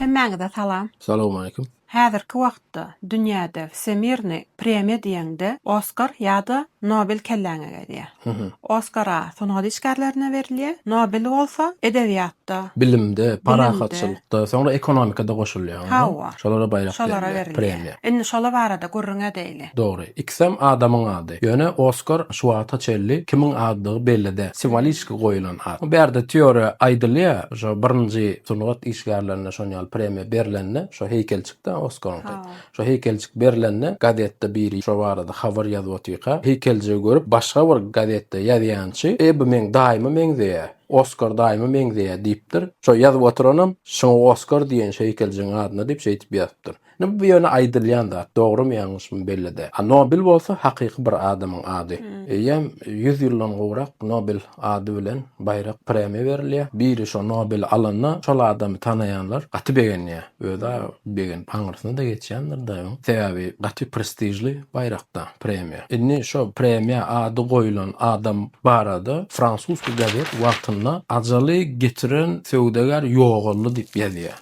Hemmäňize salam. Salowmaleýkim. Häzirki wagtda dünýäde wsemirnyý premýa diýeňde Oskar ýa-da Nobel kelläňe gelýär. Oskar-a sungat işgärlerine berilýär, Nobel bolsa edebiýatda, Bilimde, parahatçylykda, soňra ekonomikada goşulýar. Hawa. Şolara baýrak berilýär. Şolara berilýär. Premiýa. Indi şola barada gürrüň edeýli. Dogry. Ikisem adamyň ady. Ýöne Oskar şu wagta çenli kimiň adydygy belli däl. Simwoliki goýulan at. Bu bärde teoriýa aýdylýar. Şo birinji sungat işgärlerine şonýaly premiýa berilende şo heýkelçik-de Oskaryňky. Şo heýkeljik berlende gazetde biri şo barada habar ýazyp otyrka, heýkeljigi görüp başga bir gazetde ýazýançy, E bu meň daýyma meňzeýä, Oskar daýyma meňzeýä diýipdir. Şo ýazyp oturanam şuňa Oskar diýen şu heýkeljigiň adyna diýip şeýdip ýazypdyr. Indi bu ýöne aýdylýan zat, dogrymy ýalňyşmy belli däl. A Nobel bolsa hakyky bir adamyň ady. Eýýäm ýüz ýyldan gowrak Nobel ady bilen baýrak premýa berilýär. Biri şo Nobeli alanda şol adamy tanaýanlar gaty begenýär. Özi-ä begenip aňyrsyna-da geçýändir-de öň. Sebäbi gaty prestižli baýrak-da premýa. Indi şo premýa ady goýlan adam barada fransuzsky gazet wagtynda ajaly getiren söwdagär ýogaldy diýip ýazýar.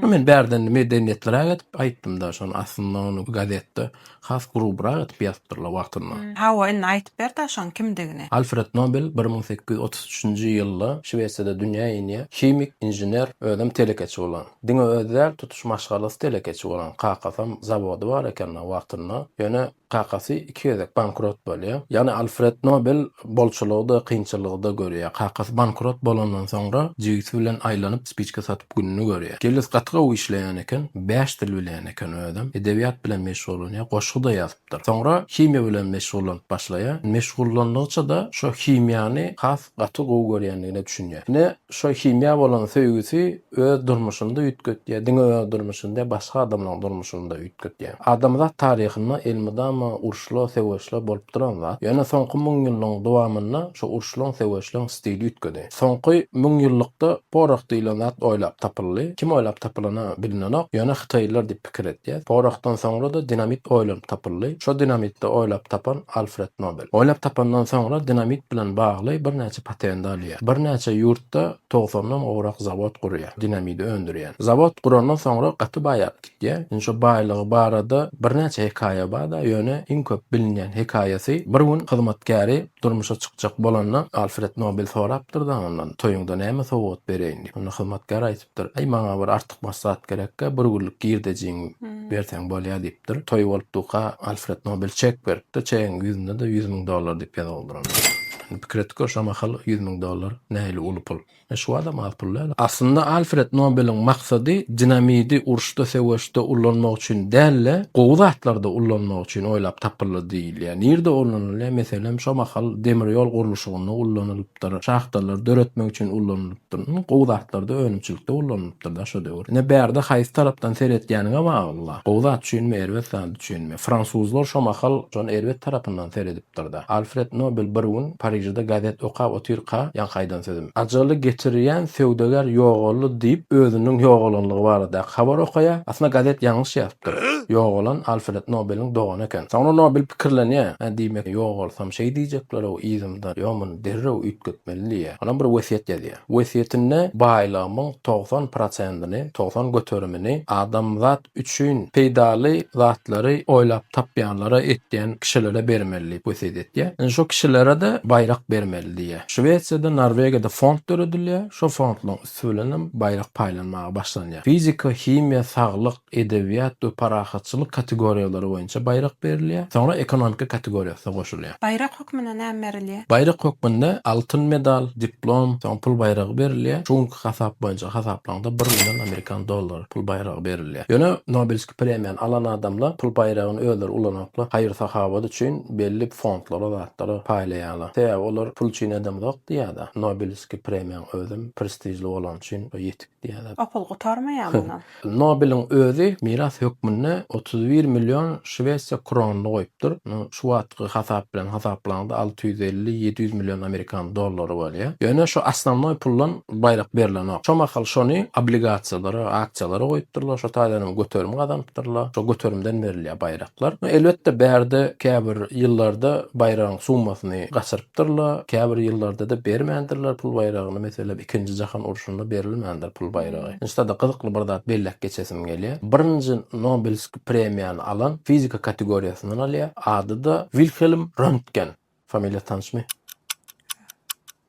Men bärde indi medeniýetliräk edip aýtdym-da şony, aslynda ony gazetde Has gurubrak edip ýazypdyrlar wagtynda. Hawa, indi aýdyp ber-dä şoň kimdigini. Alfred Nobel bir müň sekiz ýüz otuz üçünji ýylda Şwesiýada dünýä inýär. Himik, inžener, özem telekeçi bolan. Diňe özi däl, tutuş maşgalasy telekeçi bolan. Kakasam zawody bar eken-de wagtynda. Ýöne kakasy iki gezek bankrot bolýar. Ýagny Alfred Nobel bolçulygy-da, kynçylygy-da görýär. Kakasy bankrot bolandan soňra jigisi bilen aýlanyp spiçka satyp. gününi görýär. Jeliz gaty gowy işleýän eken, bäş dil bilýän eken özem, edebiýat bilen meşgullanýar, goşgy-da ýazypdyr. Soňra himiýa bilen meşgullanyp başlaýar. Meşgullandygyça-da şo himiýany has gaty gowy görýändigine düşünýär. Ine, şo himiýa bolan söýgüsi öz durmuşyny-da üýtgetýär, diňe öz durmuşyny däl, başga adamlaryň durmuşyny-da üýtgetýär. Adamzat taryhynda elmydama uruşlar, söweşler bolup duran zat. Ýöne soňky müňýyllygyň dowamynda şo uruşlaryň, söweşleriň stili üýtgedi. Soňky müňýyllykda porah diýilen zat oýlap tapyldy. Kim oýlap tapylany bilinenok, ýöne hytaýlylar diýip pikir edýär. Porahdan soňra-da dinamit oýlanyp tapyldy. Şo dinamitde oýlap tapan Alfred Nobel. Oýlap tapandan soňra dinamit bilen bagly birnäçe patenti alýar. Birnäçe ýurtda togsandan gowrak zawod gurýar, dinamidi öndürýän. Zawod gurandan soňra gaty baýardy. Diýä. Indi şo baýlygy barada birnäçe hekaýa bar-da, ýöne iň köp bilinýän hekaýasy, bir gün hyzmatkäri durmuşa çykjak bolanda, Alfred Nobel sorapdyr-da ondan, Toýuňda näme sowgat bereýin diýip. Onda hyzmatkär aýdypdyr, Aý, maňa bir artykmaç zat gerek-ä, bir günlük girdejiňi berseň bolýa diýipdir. Toý bolupdyka, Alfred Nobel çek beripdir, çegiň ýüzünde-de ýüz müň dollar diýip ýazyp aldyranypdyr. Indi pikir et gör, şo mahal ýüz müň dollar nähili uly pul. Şu adam az pul däl. Aslynda Alfred Nobeliň maksady dinamidi uruşda söweşde ullanmak üçin däl-de, gowy zatlarda ullanmak üçin oýlap tapyldy diýilýär. Nirde ullanylýar? Meselem, şo mahal demir ýol gurluşygynda ullanylypdyr, şahtalary döretmek üçin ulanylypdyr. Indi gowy zatlarda, önümçilikde ulanylypdyr-da şo döwür. Ine bärde haýsy tarapdan seretýäniňe bagly-la. Gowy zat üçinmi, erbet zat üçinmi? Fransuzlar şo mahal şony erbet tarapyndan seredipdir. ýazypdyr-da. Alfred Nobel bir gün Parižde gazet okap otyrka ýaňky aýdan sözüm. Ajaly getirýän söwdagär ýogaldy diýip özüniň ýogalanlygy baradaky habary okaýar. Aslynda gazet ýalňyş ýazypdyr. Ýogalan Alfred Nobeliň dogany eken. Soňra Nobel pikirlenýär, Hä, diýmek, ýogalsam şeý diýjekler-ow yzymdan, ýa muny derrew üýtgetmeli diýýär. Onam bir wesýet ýazýar. Wesýetinde baýlygymyň togsan prosentini, togsan göterimini adamzat üçin peýdaly zatlary oýlap tapýanlara, etýän kişilere bermeli diýip wesýet etýär. Indi şo kişilere-de baýrak bermeli diýýär. Şwesiýada, Norwegiýada fond döredilýär. Şo fondlaryň üsti bilen hem baýrak paýlanmaga başlanýar. Fizika, himiýa, saglyk, edebiýat we parahatçylyk kategoriýalary boýunça baýrak berilýär. Soňra ekonomika kategoriýasy goşulýar. Baýrak hökmünde näme berilýär? Baýrak hökmünde altyn medal, diplom, soň pul baýragy berilýär. Şu günki hasap boýunça hasaplaňda bir million amerikan dollary pul baýragy berilýär. Ýöne Nobelskiý premiýany alan adamlar pul baýragyny özleri ulanmaklyk, haýyr-sahawat üçin belli fondlara, zatlara paýlaýarlar. Sebäbi olar pul üçin edemzok diýýärda. Nobelskiý premiýaň özem prestižli bolany üçin ýetik diýýärler. Opal gutarmaýar mundan. Nobeliň özi miras hökmünde otuz bir million şwesiýa kronyny goýupdyr. Munuň şu wagtky hasap bilen hasaplaňda alty ýüz elli, ýedi ýüz million amerikan dollary bolýar. Ýöne şu osnownoý puldan baýrak berlenok. Şo mahal şony obligasiýalara, aksiýalara goýupdyrlar. Şo taýdan hem göterim gazanypdyrlar. Şo göterimden berilýär baýraklar. Elbetde bärde käbir ýyllarda baýragyň summasyny gaçyryp beripdirle, käbir ýyllarda-da bermändirler pul baýragyny, meselem, Ikinji jahan urşunda berilmändir pul baýragy. Inşda-da gyzykly bir zat belläp geçesim gelýär. Birinji Nobelski premiýany alan fizika kategoriýasyndan alýar. Ady-da Wilhelm Röntgen. Familiýa tanyşmy?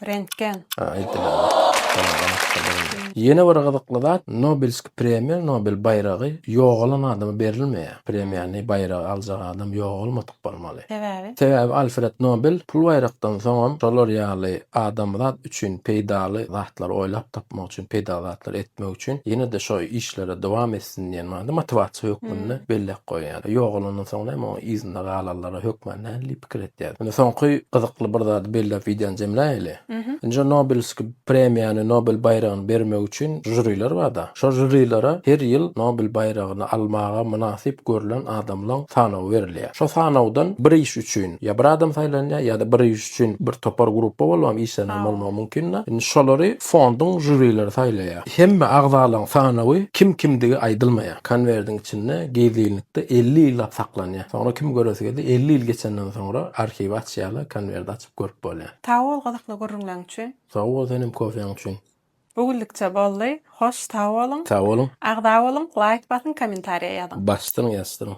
Rentgen. Hä, aýdylaýmaly. Ýene bir gyzykly zat, Nobelski premiýa, Nobel baýragy ýogalan adama berilmeýär. Premiýany, baýragy aljak adam ýogalmady. bolmaly. Sebäbi? Sebäbi Alfred Nobel pul baýrakdan soňam şolar ýaly adamzat üçin peýdaly zatlary oýlap tapmak üçin, peýdaly zatlary etmek üçin ýene-de şo işlere dowam etsin diýen manyda motiwasiýa hökmünde belläp goýýar. Ýogalandan soň näme oň yzynda galanlara hökmän nähili pikir etýäris? Indi soňky gyzykly bir zady belläp wideony jemläýeli. Nji Nobelskiý Premiýany Nobel baýragyny bermek üçin žuriler barda. Şo žurilere her ýyl Nobel baýragyny almaga mynasyp görlen adamlaň sanawy berilýär. Şo sanawdan bir iş üçin ýa bir adam saýlanýar ýa-da bir iş üçin bir topar gruppa bolubam işlenenm bolmagy mümkinda. Indi şolary fonduň žurileri saýlaýar. Hemme agzalaň sanawy kim kimdigi aýdylmaýar. Konwerdiň içinde gizlinlikde elli ýyllap saklanýar. Soňra kim göresi gelse elli ýyl geçenden soňra arhiwi açýarlar, konwerdi açyp. görüp bolýar. Sag bol gyzykly gürrüňleň üçin. Sag bol senem kofeň üçin. Bu güllükçe boldy. Hoş sag boluň. Sag boluň. Agza boluň, laýk basyň, kommentariýa ýazyň. Basdyryň ýazdyryň.